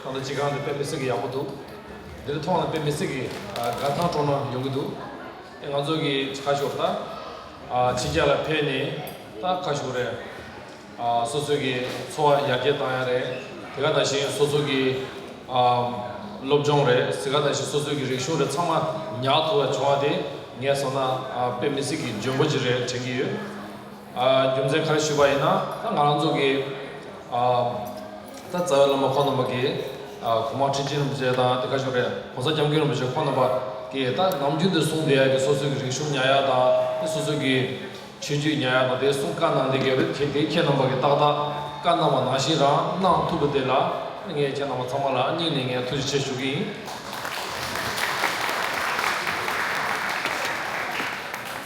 ཁོང་ཚོ་སྤྱི་ཁང་དུ་དཔེ་མི་སྲིད་གི་ཡག་པོ་འདུག་འདིར་མཐོང་ལ་དཔེ་མི་སྲིད་གི་འགར་ཐང་གྲོང་ན་ཡོང་གི་འདུག་ཨེ་ང་ཚོ་གི་ཁ་ཤོར་ད་ཕྱི་རྒྱལ་ལ་ཕེབས་ནས་ད་ཁ་ཤོར་རེད་ཨ་སོ་སོའི་གི་འཚོ་བ་ཡར་རྒྱས་བཏང་ཡག་རེད་དེ་ག་ད་བཞིན་སོ་སོ་གི་ཨ་སློབ་སྦྱོང་རེད་ཟེ་ག་ད་བཞིན་སོ་སོའི་གི་རིག་གཞུང་རེད་ཚང་མ་ཉག་ཐུ་བ་བྱུང་བ་དེ་ངས་སོང་ན་ཨ་དཔེ་མི་སྲིད་གི་འཇོན་པོ་ཅིག་རེད་དྲན་གི་ཡོད། རྒྱུ་མཚན་ག་རེ་ཞུས་པ་ཡིན་ན་ད་ང་རང་ཚོ་གི་ད་རྩ་བའི་བླ་མ་ཁོང་རྣམ་པ་གི་གོང་མ་ཁྲི་ཆེན་རིན་པོ་ཆེ་དང་དེ་ག་ཞོར་རེད་གོང་ས་སྐྱབས་མགོན་རིན་པོ་ཆེ་ཁོང་རྣམ་པ་གི་ད་ནམ་རྒྱུན་དུ་གསུང་བསྡད་ཡ་གི་སོ་སོའི་གི་རིག་གཞུང་ཉག་ཡ་དང་དེ་སོ་སོའི་གི་ཆོས་བརྒྱུད་ཉག་ཡ་དང་དེ་གསུང་བཀའ་གནང་བསྡད་གི་རེད་དེ་དེ་ཁྱེད་རྣམ་པ་གི་ཏག་ཏག་བཀའ་གནང་བ་ནང་བཞིན་རང་གནང་ཐུབ་པ་དེ་ལ་ངས་ཁྱེད་རྣམ་པ་ཚང་མ་ལ་སྙིང་ནས་ངས་ཐུགས་རྗེ་ཆེ་ཞུ་གི་ཡིན།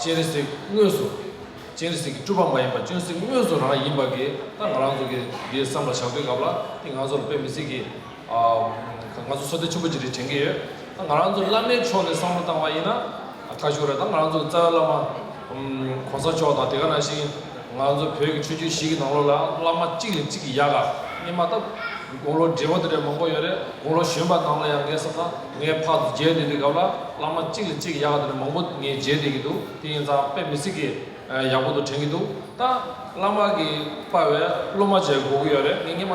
སྤྱན་རས་གཟིགས་དངོས་སུ། སྤྱན་རས་གཟིགས་ཀྱི་སྤྲུལ་པ་མ་ཡིན་པར་སྤྱོན་གཟིགས་དངོས་སུ་རང་ཡིན་པ་གིས་ད་ང་རང་ཚོ་གིས་འདི་བསམ་པར་བྱ་དགོས་སྐབས་ལ་འདི་ང་ཚོར་དཔེ་མི་སྲིད་ཀི། ང་ཚོ་ཚོ་དོན་ཆེན་པོ་ཅི་རིགས་དྲན་གི་ཡོད། ད་ང་རང་ཚོ་བླ་མའི་ཕྱོགས་ནས་བསམ་བློ་བཏང་བ་ཡིན་ན་ཁ་ཤོར་རེད་ད་ང་རང་ཚོ་གི་རྩ་བའི་བླ་མ། གོང་ས་མཆོག་དང་དེ་ག་ནང་བཞིན་ང་ཚོ་བོད་ཀྱི་ཆོས་བརྒྱུད་བཞི་གི་ནང་ལོགས་ལ་བླ་མ་གཅིག་ལས་གཅིག་གི་ཡ་ག་རྙེད་མ་ཐབས་དགུང་ལོ་བགྲེས་པོ་དེ་འདྲའི་མང་པོ་ཡོད་རེད་དགུང་ལོ་གཞོན་པ་ནང་ལ་ཡང་ངའི་བསམ་ན། ངའི་ཕག་གིས་རྗེས་འདེད་དེ་སྒབ་ལ་བླ་མ་གཅིག་ལས་གཅིག་གི་ཡག་ག་དེ་ནས་མང་པོ་ངས་རྗེས་འདེད་ཀྱི་འདུག་དེ་ཡིན་ཙང་དཔེ་མི་སྲིད་ཀི་ཡག་པོ་འདུག་དྲན་གྱི་འདུག་ད་བླ་མ་གིས་དཔའ་བས་སློབ་མ་བྱས་གོ་གི་ཡོད་རེད་ངས་སྙན་མ་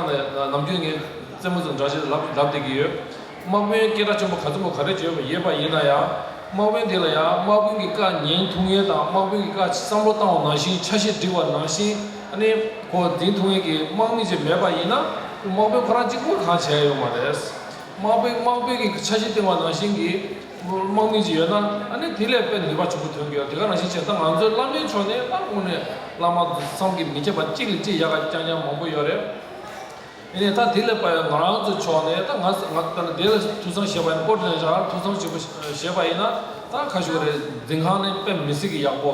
ནམ་རྒྱུན་ངའི་རྩེད་མོ་ཙམ་འདྲ་ཞིག་ལབ་ལབ་བསྡད་ཀྱི་ཡོད། དམག་དཔོན་སྐད་སྒྲ་ཆེན་པོ་ག་ཚོད་པོ་ག་རེ་བརྗོད་ཡོད་པ་ཡིན་ན་ཡང་དམག་དཔོན་དེ་ལ་ཡང་དམག་དཔོན་གྱི་བཀའ་ཉན་ཐུགས་ངལ་དང་དམག་དཔོན་གྱི་བཀའ་བསམ་བློ་བཏང་བ་ནང་བཞིན་ཆ་ཤས་བསྒྲིགས་པ་ནང་བཞིན་ནི་གོ་འཛིན་ཐུགས་ངལ་གྱི་དམག་མི་ཅིག་མེད་པ་ཡིན་ན་དམག་དཔོན་ཁོ་རང་གཅིག་པོ་གང་བྱས་ཡོད་མ་རེད། དམག་དཔོན་དམག་དཔོན་གྱི་ཆ་གཞི་སྟེང་བ་ནང་བཞིན་གྱི་དམག་མི་ཅིག་ཡོད་ན་ཨ་ནི་དེ་ལས་དཔེ་འདི་བ་ཆུ་བོ་དོན་གྱི་དེ་ག་རང་བཞིན་བྱས་ད་ང་ཚོའི་བླ་མའི་ཕྱོགས་ནས་སླར་དགོངས་ནས་བླ་མ་བསམ་གྱི་མི་བྱེད་པ་གཅིག་ལས་ཅི་ཡག་ག་རྐྱང་རྐྱང་མང་པོ་ཡོད་རེད་ཨེ་ནས་ད་དེ་ལས་དཔེ་ང་རང་ཚོའི་ཕྱོགས་ནས་ད་ང་ང་ད་ནི་དེ་ལ་ཐུགས་བསམ་བཞེས་པ་ཡིན་ཀོ་ཏྲེ་ནས་ཞག་ཐུགས་བསམ་བཞེས་པ་བཞེས་པ་ཡིན་ན་ད་ཁ་ཤུ་རེ་འཛིན་ཁང་ནས་དཔེ་མི་སྲིད་གི་ཡག་པོ།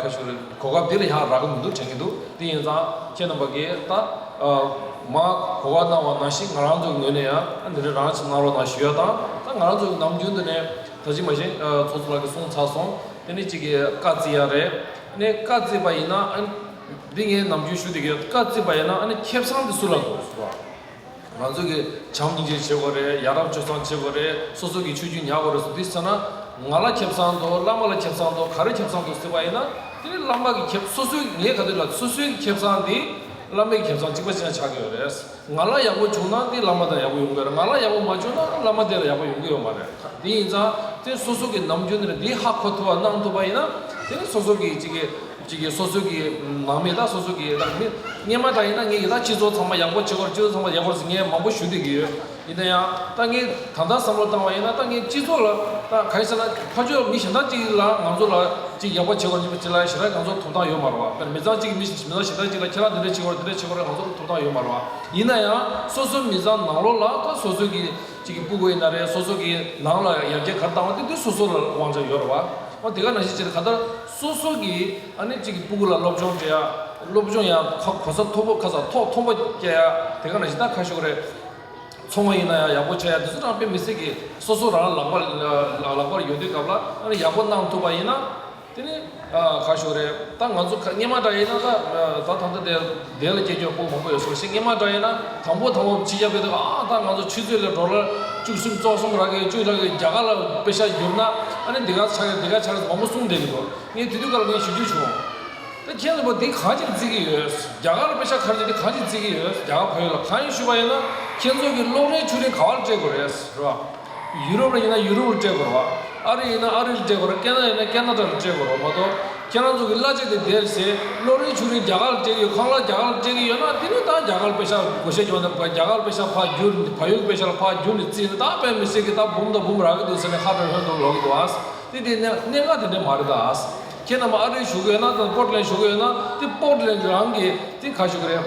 ཁ་ཤོ་རེད། གོ་སྐབས་འདིར་ཡང་རག་གི་མི་འདུག་དྲན་གྱི་འདུག་དེ་ཡིན་ཙང་ཁྱེད་རྣམ་པ་ཀས་ད་མ་གོ་བ་གནང་བ་ན་ཞིག་ང་རང་ཚོའི་ངོས་ནས་ཡང་འདི་འདྲའི་རང་ཞིག་གནང་རོགས་གནང་ཞུ་ཡ་དང་ད་ང་རང་ཚོའི་ནམ་རྒྱུན་དུ་ནས་ད་ཅིག་མ་གཞན་ཚོགས་གཙོ་ལགས་ཀྱིས་གསུངས་ཚར་སོང་དེ་ནི་གཅིག་གི་བཀའ་བརྩི་ཡ་རེད་ནས་བཀའ་བརྩི་བ་ཡིན་ན་འདི་ངས་ནམ་རྒྱུན་ཞུ་དེ་གའི་བཀའ་བརྩི་བ་ཡིན་ན་ཁྱེད་བསམ་དེ་སུ་ལ་འདུག་བསུ་བ། ང་ཚོ་གི་བྱམས་སྙིང་རྗེ་བྱེད་དགོས་རེད་ཡ་རབས་སྤྱོད་གཙང་བྱེད་དགོས་རེད་སོ་སོ་གི་ཆོས་བརྒྱུད་ཉག་གོ་རེ་སོ་དེ་བསོད་ན་ང་ལ་ཁྱབ་བསང་འདུག་བླ་མ་ལ་ཁྱབ་བསང་འདུག་ག་རེ་ཁྱབ་བསང་འདུག་ཟེར་བ་ཡིན་ན་དེ་བླ་མ་གི་ཁྱབ་སོ་སོའི་ངས་ག་དུས་ལ་སོ་སོའི་ཁྱབ་བསང་དེ་བླ་མའི་ཁྱབ་བསང་གཅིག་པ་ཅན་ཆགས་ཀྱི་ཡོད་རེད་ང་ལ་ཡག་པོ་བྱུང་ན་དེ་བླ་མ་དང་ཡག་པོ་ཡོང་གི་ཡོད་རེད་ང་ལ་ཡག་པོ་མ་བྱུང་ན་བླ་མ་དེ་ལ་ཡག་པོ་ཡོང་གི་ཡོད་མ་རེད་ཁ་དེ་ཡིན་ཙང་དེ་སོ་སོ་གི་ནམ་རྒྱུན་དེ་ཧ་གོ་ཐུབ་བ་གནང་ཐུབ་པ་ཡིན་ན་དེ་སོ་སོ་གི་གཅིག་གི། གཅིག་གིས་སོ་སོའི་གི་ནང་མི་དང་སོ་སོའི་གི་རང་མི། སྙེ་མ་ད་ཡིན་ན་ངས་ཡི་དྭགས་སྤྱི་ཚོགས་ཚང་མ་ཡག་པོ་བྱེད་དགོས་སྤྱི་ཚོགས་ཚང་མ་ཡག་པོ་རེད་ཟེར་ངས་མང་པོ་ཞུ་སྡོད་ཀྱི་ཡོད། ཡིན་ན་ཡང་ད་ངས་ད་ལྟ་བསམ་བློ་བཏང་བ་ཡིན་ན་ད་ངས་སྤྱི་ཚོགས་ལ་ད་ག་རེ་བྱས་ན་ཕ་ཆོས་མི་གཞན་དག་ཅིག་ལ་ང་ཚོ་ལ་ཅིག་ཡག་པོ་བྱེད་དགོས་ཅིག་ལ་ཞེ་ན་ང་ཚོར་ཐོབ་ཐང་ཡོད་མ་རེད་བ། དཔེར་ན་མི་ཚང་གཅིག་གིས་མི་མི་ཚང་གཞན་དག་ཅིག་ལ་ཁྱེད་རང་འདི་འདྲ་བྱེད་དགོས་རེད་འདི་འདྲ་བྱེད་དགོས་རེད་ང་ཚོར་ཐོབ་ཐང་ཡོད་མ་རེད་བ། ཡིན་ན་ཡང་སོ་སོའི་མི་ཚང་ནང་ལོགས་ལ་ད་སོ་སོའི་གི་ཅིག་གི་སྤུ་དགོས་ཡིན་ན་རེད་སོ་སོའི་གི་ནང་ལ་ཡར་རྒྱས་ག་རེ་བཏང་བ་དེ་དེ་སོ་སོ་ལ་དབང་ཆ་ཡོད་རེད་བ། འོ་དེ་ག་ནང་བཞིན་བྱས་ན་ག་ལྟར། སོ་སོ་གི་ཨ་ནེ་གཅིག་གི་སྤུ་གུ་ལ་སློབ་སྦྱོང་སྤྲད་ཡ། སློབ་སྦྱོང་ཡང་ཁ་གོ་ས་མཐོ་པོ་ཁ་ས་ཐོག་མཐོ་པོ་བསྐྱལ་ཡ་དེ་ག་ནང་བཞིན་ད་ཁ་ཤོག་རེ་ཚོང་བ་ཡིན་ན་ཡང་ཡག་པོ་བྱ་ཡ་དེ་ཚོ་རང་དཔེ་མི་སྲིད་གི་སོ་སོ་རང་ལག་པ་ལག་པར་ཡོད་དུས་སྐབས་ལ་ཨ་ནེ་ཡག་པོ་གནང་ཐུབ་པ་ཡིན་ན་དེ་ནི་ཁ་ཤོག་རེད་ད་ང་ཚོ་ཁ་སྙན་མ་འདྲ་ཡིན་ན་ད་ད་ད་ད་དེ་བདེན་ལ་སྐྱེས་མཆོག་སྐུ་མང་པོ་ཡོད་སོང་ཞེས་སྔས་མ་འདྲ་ཡིན་ན་དང་པོ་དང་པོ་ཕྱི་རྒྱལ་བོད་དུ་ཨང་ཨང་དང་ང་ཚོ་ཆུ་ཚོད་ལས་འགྲོ་ར་བཅུ་གསུམ་བཙོག་གསུམ་རག་གི་བཅུ་རག་གི་རྒྱ་གར་ལ་དཔེ་ཆ་བསྒྱུར་ན་ཨ་ནི་འདི་ག་ཆགས་ཀྱི་འདི་ག་ཆགས་ཀྱི་མང་པོ་གསུང་བསྡད་ཀྱི་འདུག་ངས་དུས་དུས་ཀ་ལ་ངས་ཞུ་རྒྱུ་བྱུང། ད་ཁྱེད་ཚོ་པོ་འདི་གང་ཅིར་བརྩི་གི་ཡོད་རྒྱ་གར་ལ་དཔེ་ཆ་ཁ་རྗེ་འདི་གང་ཅིར་བརྩི་གི་ཡོད་རྒྱ་གར་བོད་ཡིག་ལ་གང་ཡིན་ཞུས་པ་ཡིན་ན་ཁྱེད་ཚོ་གི་གློག་རའི་ཆུ་རིན་ག་བར་སྤྲད་དགོས་རེད་རོ། ཡུ་རོབ་ལ་ཡིན་ན་ཡུ་རོབ་ལ་སྤྲད་དགོས་རོགས། ཨ་རི་ཡིན་ན་ཨ་རི་ལ་སྤྲད་དགོས་རོགས་སྐད་ནཱ་ཡིན་ན་སྐད་ནཱ་ཏྲ་ལ་སྤྲད་དགོས་རོགས་མ་གཏོགས་ཁྱེད་རང་ཚོ་གི་གླ་ཆ་དེ་བདེ་རེད་ཟེར་གློག་རིན་ཆུ་རིན་རྒྱ་གར་ལ་སྤྲད་ཀྱི་ཡོད་ཁང་གླ་རྒྱ་གར་ལ་སྤྲད་ཀྱི་ཡོད་ན་དེ་རིང་ད་རྒྱ་གར་པེ་ཤ་བགོ་བཤའ་བྱུང་ན་རྒྱ་གར་པེ་ཤ་ཕར་བསྒྱུར་ཕ་ཡུལ་གྱི་པེ་ཤ་ལ་ཕར་བསྒྱུར་ནས་བརྩིས་ན་ད་བོད་མི་སེར་གྱི་ད་འབུམ་ད་འབུམ་རག་གི་འདུག་ཟེར་ནས་ཧ་ཀྲང་ཧོན་འདུག་ལོག་གི་འདུག་ཨཱ། དེ་དེ་གནས་གནས་ངག་དེ་འདྲ་མ་རེད་ད་ཨཱ། ཁྱེད་རྣམས་ཨ་རིར་བཞུགས་གི་ཡོད་ན་དང་པོར་ལེན་བཞུགས་གི་ཡོད་ན་དེ་པོར་ལེན་རང་གི་དེ་ག་བཞུགས་གི་རེད།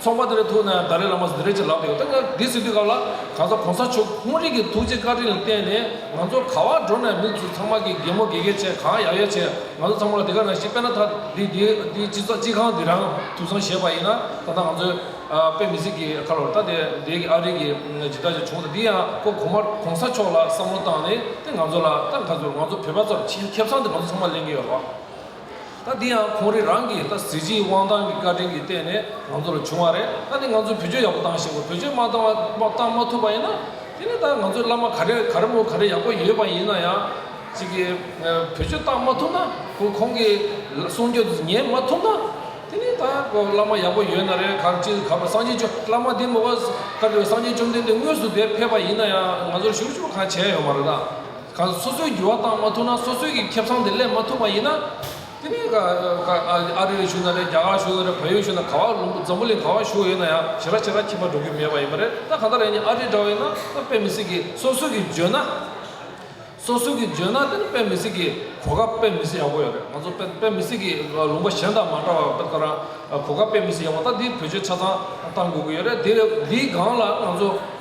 ཚོགས་པ་དེ་རིང་ཐུག་ནའང་ད་རེས་བླ་མ་ཟི་རེ་ཆེ་ལགས་དེ་ཡོད་ད་ལྟ་འདི་ཟིན་དུས་སྐབས་ལ་གང་ཟག་གོང་ས་མཆོག་གི་དཔུང་རིགས་ཀྱི་ཐུགས་རྗེ་བཀའ་དྲིན་ལ་བརྟེན་ནས་ང་ཚོ་ག་བར་འགྲོ་ནའི་མི་ཚུ་ཚང་མ་གིས་རྒན་མོ་དགེ་རྒན་བྱས་གང་ཡག་ཡག་བྱས་ང་ཚོ་ཚང་མ་ལ་དེ་ག་རང་ཞིག་དཔེ་ན་ཐ་དེ་དེ་དེ་སྤྱི་ཚོགས་སྤྱི་ཁང་འདི་རང་ཐུབ་སོང་བཞེས་པ་ཡིན་ན་ད་ལྟ་ང་ཚོའི་དཔེ་མི་སྲིད་ཀྱི་ཁ་ལོ་ད་དེ་འདས་ཀྱི་ཨ་རིག་གི་ཇི་ལྟར་ཅིག་བྱུང་ད་འདི་ཡང་ཁོ་གོང་མ་གོང་ས་མཆོག་ལ་བསམ་བློ་བཏང་ནས་དེ་ང་ཚོ་ལ་ད་ཁ་ཚུར་ང་ཚོ་བོད་པ་ཚོར་ཁྱེད་ཚང་དུ་ང་ཚོ་ཚང་མ་ལེན་གྱི་ཡོད་རོགས། ད་འདི་ཡང་ཁོང་རེ་རང་གིས་ད་གཟི་བརྗིད་དབང་ཐང་གི་བཀའ་དྲིན་གྱི་སྟེང་ནས་ང་ཚོ་ལ་བྱུང་བ་རེད་ད་འདི་ང་ཚོས་བེད་སྤྱོད་ཡག་པོ་བཏང་ཤེས་དགོས་བེད་སྤྱོད་མ་བཏང་བ་བཏང་མ་ཐུབ་པ་ཡིན་ན་དེ་ནི་ད་ང་ཚོའི་བླ་མ་ག་རེ་ག་རེ་མོ་ག་རེ་ཡག་པོ་ཡོད་པ་ཡིན་ན་ཡང་ཅིག་གིས་བེད་སྤྱོད་བཏང་མ་ཐུབ་ན་ཁོ་ཁོང་གི་གསུང་སྐྱོ་དེ་ཉན་མ་ཐུབ་ན་དེ་ནི་ད་བླ་མ་ཡག་པོ་ཡོད་ན་རེ་ག་ཅིག་ག་བ་སངས་རྒྱས་བཅོ་བླ་མ་འདི་མོ་བ་ཀ་བྲི་བ་སངས་རྒྱས་བཅོམ་ལྡན་འདས་དངོས་སུ་དེ་ཕེབས་པ་ཡིན་ན་ཡང་ང་ཚོར་ཞུ་ཞུ་གང་བྱས་ཡོང་བ་རེད་ད། ག་ལ་སོ་སོའི་འགྱུར་བ་བཏང་མ་ཐུབ་ན་སོ་སོའི་གི་ཁེབས་ཚང་དེ་སླེབས་མ་ཐུབ་པ་ཡིན་ན། དེ་ནས་ག་ཨ་རི་ལ་ཞུགས་ན་རེད་རྒྱ་གར་ལ་ཞུགས་ན་རེད་བལ་ཡུལ་ཞུགས་ན་ག་བ་ལུམ་འཛམ་བུ་གླིང་ག་བ་ཞུགས་ཡོད་ན་ཡང་བྱེ་ར་བྱེ་ར་ཁྱིམ་པ་འགྲོ་རྒྱུ་མེད་པ་ཡིན་པ་རེད་ད་ག་འདྲ་རེད་ཨ་རི་འདྲ་བ་ཡིན་ན་དཔེ་མི་སྲིད་གི་སོ་སོའི་གི་འཇོན་ན། སོ་སོའི་གི་འཇོན་ན་དེ་ནི་དཔེ་མི་སྲིད་གི་གོ་སྐབས་དཔེ་མི་སྲིད་ཡག་པོ་ཡོད་རེད་ང་ཚོ་དཔེ་དཔེ་མི་སྲིད་གི་ལུང་པ་གཞན་དང་མ་འདྲ་བ་དཔེ་ལྟ་རང་གོ་སྐབས་དཔེ་མི་སྲིད་ཡག་པོ་ད་འདི་བོད་ཆོལ་ཆ་ཚང་བཏང་དགོས་ཀྱི་ཡོད་རེད་དེ་འདིའི་སྒང་ལ་ང་ཚོ།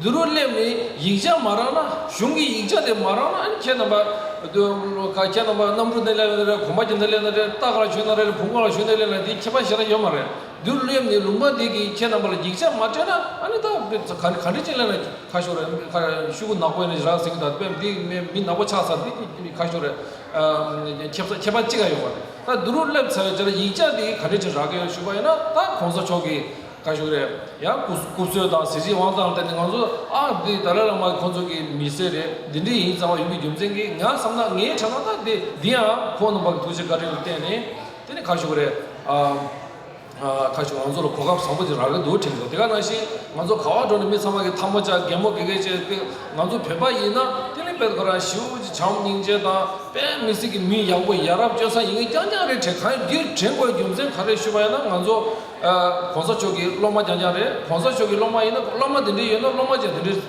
འདི་རུ་སླེབས་ནས་ཡིག་ཆ་མ་རག་ན་གཞུང་གི་ཡིག་ཆ་དེ་མ་རག་ན་ཁྱེད་རྣམ་པ། ཁྱེད་རྣམ་པ་གནམ་གྲུ་ནས་སླེབས་ན་རེད་གོམ་པ་གྱི་ནས་སླེབས་ན་རེད་རྟ་ག་ལ་ཞོན་ན་རེད་བུ་ག་ལ་ཞོན་ནས་སླེབས་ན་དེའི་ཁྱད་པར་གཞན་ན་ཡོད་མ་རེད། འདི་རུ་སླེབས་ནས་ལུང་པ་འདི་གིས་ཁྱེད་རྣམ་པ་ལ་ཡིག་ཆ་མ་སྤྲད་ན་ཨ་ནི་ད་ག་འདྲི་ཅིག་གླེང་ན་ཁ་ཤོར་རེད་ཁ་ཤུ་གུ་ནག་པོ་ཡིན་ན་རང་ཟིག་གི་ད་དཔེ་འདི་མི་ནག་པོ་ཆགས་ཚར་འདི་ཀྱི་ཁ་ཤོར་རེད། ཁྱད་པར་ཅི་ག་ཡོད་མ་རེད་ད་འདི་རུ་སླེབས་ཚར་བའི་ཆ་ལ་ཡིག་ཆ་འདི་ག་འདྲི་ཅིག་རག་གི་ཡོད་ཞུས་པ་ཡིན་ན་ད་གོང་ས་མཆོག་གིས། བཀའ་ཤོག་རེད་ཡང་སྐུ་སྐུ་སོས་དང་གཟི་བརྗིད་དབང་ཐང་ལྟ་ནི་ང་ཚོ་ཨ་འདི་ད་ལ་ལ་མ་ཁོང་ཚོ་གི་མི་སེར་རེད་འདི་འདྲི་ཡིན་ཙང་བ་ཡུལ་མི་རྒྱུ་མཚན་གི་ང་བསམ་ན་ངའི་ཁྲ་ན་ད་དེ་འདི་ཡང་ཁོང་རྣམ་པ་གི་ཐུགས་རྗེ་བཀའ་དྲིན་ལ་བརྟེན་ནི་དེ་ནི་ཁ་ཤོག་རེད་ཨ་ཁ་ཤོག་ང་ཚོ་ལ་གོ་སྐབས་བཟང་པོ་དེ་རག་གི་འདུག་དྲན་གི་འདུག་དེ་ག་ནང་བཞིན་ང་ཚོ་ག་བ་འགྲོ་ནི་མི་ཚང་མ་གི་ཐ་མོ་ཅག་རྒན་མོ་དགེ་རྒན་བཅས་ང་ཚོ་བོད་པ་ཡིན་ན་དེ་ནི་དཔལ་ཁོ་རང་ཞེའུ་ཅི་བྱམས་སྙིང་རྗེ་དང་དཔལ་མི་སི་གི་མི་ཡག་པོ་ཡ་རབས་སྤྱོད་བཟང་ཡིན་ངེས་རྐྱང་རྐྱང་རེད་དྲན་གང་ཡོད་འདིར་དྲན་དགོས་རྒྱུ་མཚན་ག་རེ་ཞུ་བ་ཡིན་ན་ང་ཚོ། གོང་ས་མཆོག་གི་སློབ་མ་རྐྱང་རྐྱང་རེད་གོང་ས་མཆོག་གི་སློབ་མ་ཡིན་ན་སློབ་མ་དེ་འདྲས་ཡོད་ན་སློབ་མ་ཅན་དེ་འདྲས་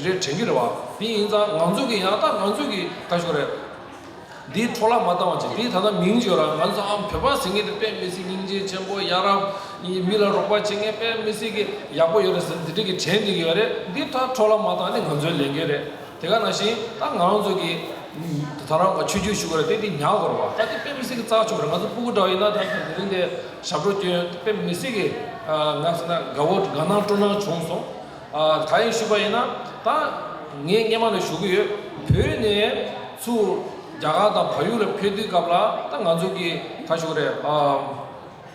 རེད་དྲན་གྱི་རེད་བ་དེ་ཡིན་ཙང་ང་ཚོ་གི་ཡང་དག་ང་ཚོ་གི་ལྟ་ཞོག་རེད་འདི་འཕྲོ་བརླག་མ་བཏང་བ་ཅིག་དེ་ད་ལྟ་མིང་བརྗོད་ར་ང་ཚོ་ཨ་བོད་པ་ཟེར་མཁན་དེ་དཔེ་མི་སྲིད་སྙིང་རྗེ་ཆེན་པོ་ཡ་རབ་མི་ལ་རོགས་པ་བྱེད་མཁན་དཔེ་མི་སྲིད་གི་ཡག་པོ་ཡོད་རེད་ཟེར་དེ་འདྲས་གི་དྲན་གྱི་ཡོད་རེད་འདི་ད་འཕྲོ་བརླག་མ་བཏང་ནི་ང་ཚོའི་ལས་འགན་རེད། དེ་ག་ནང་བཞིན་ད་ང་རང་ཚོ་གི་ད་རང་ག་ཆོས་རྒྱུད་ཞུ་ག་ར་དེ་དེ་ཉག་གོ་ར་བ་ད་དེ་དཔེ་མི་སྲིད་གི་ཙག་ཆོ་ག་ར་ང་ཚོ་སྤུ་གུ་འདྲ་བ་ཡིན་ན་ད་དེ་དེ་རིང་དེ་ཞབས་བྲོ་སྐྱོན་དཔེ་མི་སྲིད་གི་ང་སེ་ན་དགའ་བོ་དགའ་སྣང་སྤྲོ་སྣང་བྱུང་སོང་ད་ཡིན་ཞུ་བ་ཡིན་ན་ད་ངས་སྙེ་མ་ལ་ཞུ་གི་ཡོད་བོད་ནས་ཚུ་རྒྱ་གར་དང་བ་ཡུག་ལ་ཕེབས་དུས་སྐབས་ལ་ད་ང་ཚོ་གི་ག་ཞུ་ག་ར་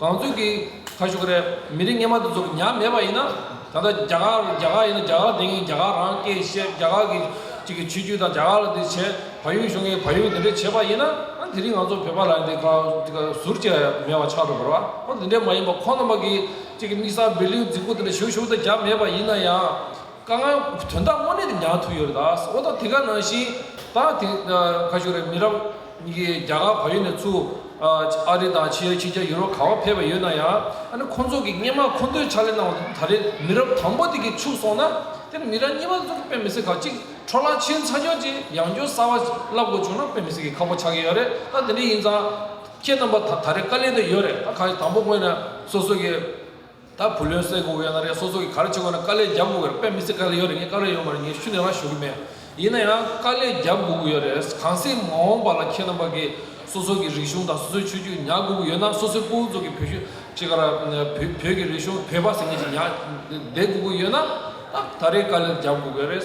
གང་ཚོད་ཀྱིས་ཁ་ཤོ་ཀ་རས་མི་རིགས་ངན་པ་འདི་ཚོ་གི་ཉམས་མེད་པ་ཡིན་ན་ད་ལྟ་རྒྱ་གར་རེད་རྒྱ་གར་ཡིན་ན་རྒྱ་གར་དེ་ངས་རྒྱ་གར་རང་སྐད་བཤད་རྒྱ་གར་གྱི་ཅིག་གི་ཆོས་བརྒྱུད་དང་རྒྱ་གར་ལ་འདི་བྱས་བལ་ཡུལ་གཞུང་གིས་བལ་ཡུལ་འདི་འདྲས་བྱས་པ་ཡིན་ན་དེ་རིང་ང་ཚོ་བོད་པ་ལ་འདི་ག་ཅིག་ག་ཟུར་ཅིག་ག་མེད་པ་ཆགས་འགྲོ་གི་རོ་འདི་འདྲས་མ་ཡིན་པ་ཁོ་རྣམ་པ་གི་ཅིག་གི་དམིགས་བསལ་བེ་ལེའུ་རྫིག་པོ་འདི་འདྲ་ཞུ་ཞུ་ད་རྒྱབ་མེད་པ་ཡིན་ན་ཡང་ཀ་ང་དོན་དག་དངོས་གནས་འདི་ཉག་ཐུག་ཡོད་རེད་ད་ཨོ་ད་དེ་ག་ནང་བཞིན་ད་དེ་ཁ་ཤོ་ཀ་རས་མི་རབས། གཉིས་ཀའི་རྒྱ་གར་བོད་ཡིག་ནས་བཙུགས། ཨ་རི་དང་ཕྱི་ཡ་ཕྱི་རྒྱ་ཡུ་རོབ་གང་བ་ཕེབས་པ་ཡོད་ན་ཡང། ཨ་ནི་ཁོང་ཚོ་གི་སྙེ་མ་ཁོ་ཚོའི་ཕྱག་ལས་གནང་བ་དེ་ད་རེས་མི་རབས་དང་པོ་དེ་གིས་ཕྱུག་སོང་ན། དེར་མི་རབས་གཉིས་པ་ཚོ་གི་དཔེ་མི་སྲིད་ཁག་གཅིག་འཕྲོ་བརླག་ཕྱིན་ཚར་རྒྱུ་བཅས་ཡང་སྐྱོ་གསར་བ་བསླབ་དགོས་བྱུང་ན་དཔེ་མི་སྲིད་ཀྱི་ཁག་པོ་ཆགས་ཀྱི་ཡོད་རེད་ད་དེ་འདྲ་ཡིན་ཙང། ཁྱེད་རྣམ་པ་ད་རེས་དཀའ་ལས་དེ་ཡོད་རེད་ད་ག་ཡི་དང་པོ་དངོས་ནས་སོ་སོ་གི། ད་བུ་ལོན་སེ་གོ་གི་ཡོད་ན་རེད་སོ་སོ་གི་ག་རེ་བྱེད་དགོས་ན་དཀའ་ལས་རྒྱབ་དགོས་གི་རེད་དཔེ་མི་ཚེ་ག་རེ་ཡོད་རེད་ངས་དཀའ་ལས་ཡོད་མ་རེད་ངས་ཤུ་ནས་རང་ཞུ་གི་མེད་ཡིན་ན་ཡང་དཀའ་ལས་རྒྱབ་དགོས་གི་ཡོད་རེད་གང་ཟེ་མ་འོང་པ་ལ་ཁྱེད་རྣམ་པ་གི་སོ་སོ་གི་རིག་གཞུང་དང་སོ་སོའི་ཆོས་བརྒྱུད་ཉག་དགོས་གི་ཡོད་ན་སོ་སོའི་སྤུན་ཚོགས་གི་བོད་ཤུ་ཁྱེད་ག་ར་བོད་ཀྱི་རིག་གཞུང་བོད་པ་ཟེ་ངེད་ཀྱི་ཉག་བསྡད་དགོས་གི་ཡོད་ན་ད་རེས་དཀའ་ལས་རྒྱབ་དགོས་གི་རེད།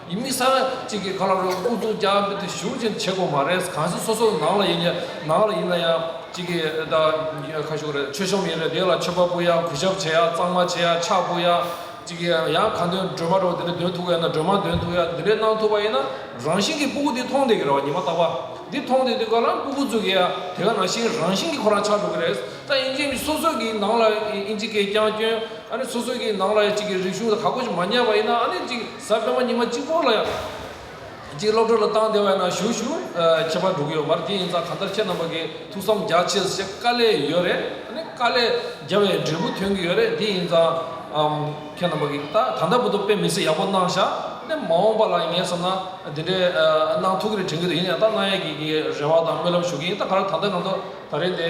ཡིན་མི་ས་ན་གཅིག་གིས་ག་ལ་རུང་ཨུ་ཚུགས་རྒྱག་འབུད་དེ་ཞུགས་ཅན་བྱེད་དགོས་མ་རེད་གང་སྲིད་སོ་སོ་ནང་ལ་ཡིན་ནང་ལ་ཡིན་ན་ཡང་གཅིག་གིས་ད་ཁ་ཤོ་རེད་ཆོས་གཤོམ་ཡིན་རེད་དེ་ལ་ཆོས་པ་པོ་ཡང་གུས་ཞབས་བྱེད་ཡ་གཙང་མ་བྱེད་ཡ་ཕྱག་ཕུལ་ཡ་གཅིག་གིས་ཡང་གང་འདོད་སྒྲོལ་མ་རོགས་དེ་འདྲ་འདོན་ཐུབ་ག་ཡ་ན་སྒྲོལ་མ་འདོན་ཐུབ་ཡ་འདི་འདྲ་གནང་ཐུབ་པ་ཡིན་ན་རང་བཞིན་གྱི་སྤུ་གུ་འདི་མཐོང་བསྡད་གི་རེད་ཉི་མ་རྟག་པ་འདི་མཐོང་བསྡད་དུས་ག་ལ་སྤུ་གུ་འཛུགས་གི་ཡ་དེ་ག་ནང་བཞིན་རང་བཞིན་གྱི་ཁོ་རང་ཆགས་འགྲོ་གི་རེད་ད་ཨིན་ཇི་སོ་སོ་གིས་ནང་ལ་ཨིན་ཇི་སྐད་རྐྱང་སྐྱོན་ཨ་ནི་སོ་སོ་གིས་ནང་ལ་གཅིག་གིས་རིག་གཞུང་ལ་ག་གོ་ཆོད་མ་ཉན་པ་ཡིན་ན་ཨ་ནི་གཅིག། གཟའ་སྤེན་པ་ཉི་མ་གཅིག་པོ་ལ་ཡང། གཅིག་སློབ་གྲྭ་ལ་བཏང་བདེ་བས་ན་བཞུགས་ཞུ་ཁྱད་པར་འགྲོ་གི་ཡོད་མར་དེ་ཡིན་ཙང་གང་ལྟར་ཁྱེད་རྣམ་པ་གི་ཐུགས་བསམ་རྒྱ་ཆེ་ཞེས་དཀའ་ལས་ཡོད་རེད་ནི་དཀའ་ལས་རྒྱ་བའི་འབྲས་བུ་ཐོན་གི་ཡོད་རེད་དེ་ཡིན་ཙང་ཁྱེད་རྣམ་པ་གི་ད་གང་ལྟར་བུ་ཐུག་དཔེ་མི་སྲིད་ཡག་པོ་གནང་ཞག་ནི་མ་འོངས་པ་ལ་ངས་བསམ་ན་དེ་འདྲའི་གནང་ཐུག་གི་རེད་དྲན་གི་འདུག་ཡིན་ཡང་ད་གནང་ཡས་ཀྱི་རེ་བ་དང་སྨོན་ལམ་ཞུ་གི་ཡིན་ད་ག་རེ་ད་ལྟ་གང་ཐུག་ད་རེ་དེ།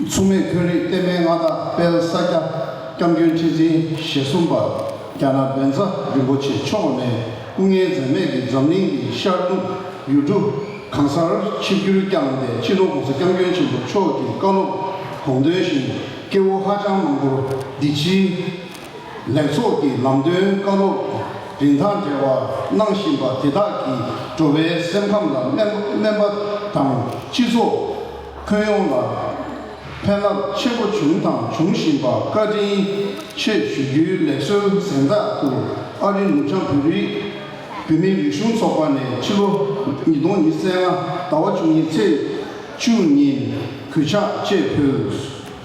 མཚུངས་མེད་ཁོན་རིགས་གཏེར་མའི་མངའ་བདག་དཔལ་ས་སྐྱ་སྐྱབས་མགོན་ཁྲི་འཛིན་ཞེ་གསུམ་པ་རྒྱ་ནག་བན་ཛ་རིན་པོ་ཆེ་མཆོག་ནས་སྐུ་ངལ་འཛེམས་མེད་ཀྱིས་འཛམ་གླིང་གི་ཤར་ནུབ་ཡུལ་གྲུ་གང་སར་ཆིབས་བསྒྱུར་བསྐྱངས་ཏེ་སྤྱི་ནོར ྋགོང་ས་སྐྱབས་མགོན་ཆེན་པོ་མཆོག་གི་བཀའ་སློབ་དགོངས་དོན་བཞིན་སྐྱེ་བོ་ཧ་ཅང་མང་པོར་འདི་ཕྱིའི་ལེགས་ཚོགས་ཀྱི་ལམ་སྟོན་བཀའ་སློབ་རིན་ཐང་བྲལ་བ་གནང་བཞིན་པ་དེ་དག་གིས་འགྲོ་བའི་སེམས་ཁམས་ལ་སྨན་པ་དང་སྤྱི་ཚོགས་ཁྱོན་ཡོངས་ལ་ཕན་རླབས་ཆེན་པོ་བྱུང་དང་འབྱུང་བཞིན་པ་བཀའ་དྲིན་ཆེ་ཞུ་རྒྱུའི་ལེགས་གསོལ་གཟེངས་རྟགས་ཏུ་ཨ་རི་ནུབ་བྱང་བོད་རིགས་བུད་མེད་རིག་གཞུང་ཚོགས་པ་ནས་ཕྱི་ལོ་ཉིས་སྟོང་ཉིས་བརྩེགས་ལྔ་ཟླ་བ་བཅུ་གཉིས་ཚེས་བཅུ་ཉིན་གུས་ཕྱག་བཅས་ཕུལ།